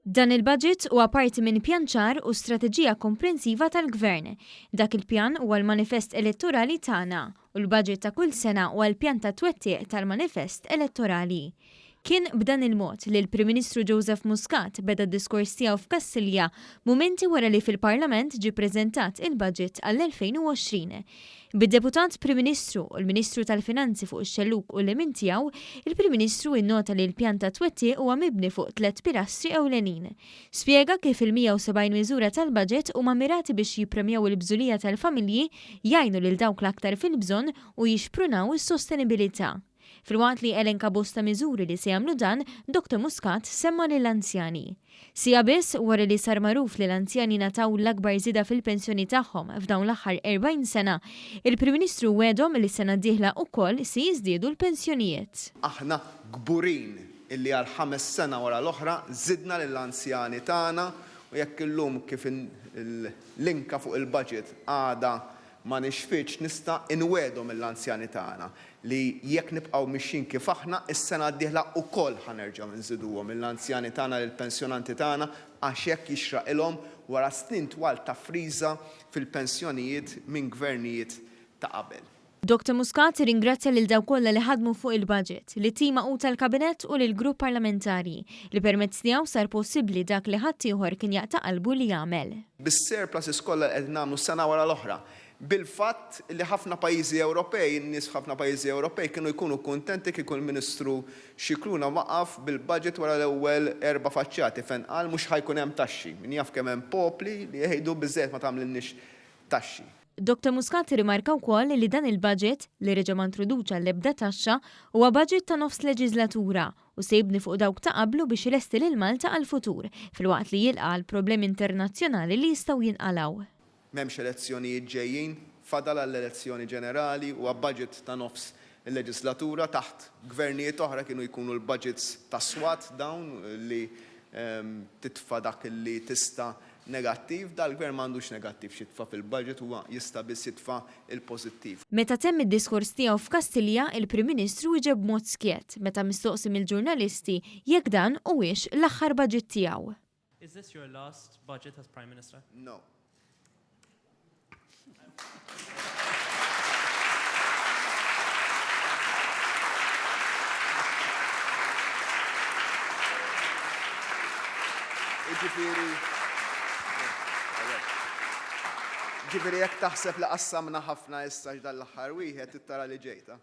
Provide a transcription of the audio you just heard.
Dan il-Budget huwa parti minn pjan ċar u strateġija komprensiva tal-Gvern. Dak il-pjan huwa l-manifest elettorali tagħna u l-Budget ta' kull sena huwa l-pjan ta' twettiq tal-manifest elettorali. Kien b'dan il-mod li l-Prim Ministru Joseph Muscat beda d-diskors tiegħu f'Kastilja mumenti wara li fil-Parlament ġie ppreżentat il-Budget għall-2020. Bid-Deputat Prim Ministru u l-Ministru tal-Finanzi fuq ix-xellug u l-lemin tiegħu, il-Prim Ministru innota li l-pjan ta' twettiq huwa mibni fuq tliet pilastri ewlenin. Spjega kif il-170 miżura tal-baġit huma mmirati biex jippremjaw il-bżulija tal-familji, jgħinu lil dawk l-aktar fil-bżonn u jixprunaw is-sostenibilità. Filwaqt li elenka bosta miżuri li se jagħmlu dan, Doctor Muscat semma lill-anzjani. Siegħa biss wara li sar magħruf li l-anzjani ngħataw l-akbar żieda fil-pensjoni tagħhom f'dawn l-aħħar 40 sena, il-Prim Ministru wegħdhom li s-sena d-dieħla ukoll se jiżdiedu l-pensjonijiet. Aħna kburin illi għal ħames sena wara l-oħra żidna lill-anzjani tagħna u jekk illum kif l-inka fuq il-budget għadha Ma nixfitx, nista' inwegħedhom lill-anzjani tagħna li jekk nibqgħu mixjin kif aħna, is-sena d-dieħla wkoll ħa nerġgħu nżiduhom lill-anzjani tagħna, lill-pensjonanti tagħna, għax hekk jixraqilhom wara snin twal ta' friża fil-pensjonijiet minn gvernijiet ta' qabel. Doctor Muscat irringrazzja lil dawk kollha li ħadmu fuq il-Budget, lit-tim magħqud tal-Kabinett u lill-Grupp Parlamentari, li permezz tiegħu sar possibbli dak li ħaddieħor kien jaqta' qalbu li jagħmel. bis-surpluses kollha li qegħdin nagħmlu sena wara l-oħra, bil-fatt li ħafna pajjiżi Ewropej, in-nies f'ħafna pajjiżi Ewropej kienu jkunu kuntenti kieku l-Ministru Scicluna waqaf bil-budget wara l-ewwel erba' faċċjati fejn qal mhux ħa jkun hemm taxxi. Min jaf kemm hemm popli li jgħidu biżżejjed ma tagħmlilniex taxxi. Doctor Muscat irrimarka wkoll li dan il-budget, li reġa' ma introduċa l-ebda taxxa, huwa budget ta' nofs leġiżlatura u se jibni fuq dawk ta' qablu biex ilesti lil Malta għall-futur, filwaqt li jilqa' għall-problemi internazzjonali li jistgħu jinqalgħu. M'hemmx elezzjonijiet ġejjin, fadal għall-elezzjoni ġenerali u għab-budget ta' nofs il-leġislatura, taħt Gvernijiet oħra kienu jkunu l-budgets tas-swat dawn li titfa' dak li tista' negattiv, dal-Gvern m'għandux negattiv x'jitfa' fil-budget, huwa jista' biss jitfa' l-pożittiv. Meta temm id-diskors tiegħu f'Kastilja, il-Prim Ministru wieġeb b'mod skjett, meta mistoqsi mill-ġurnalisti jekk dan huwiex l-aħħar budget tiegħu. Is this your last budget as Prime Minister? No. Ġifieri jekk taħseb li qassamna ħafna issa x'dan l-aħħar wieħed trid tara li ġejta.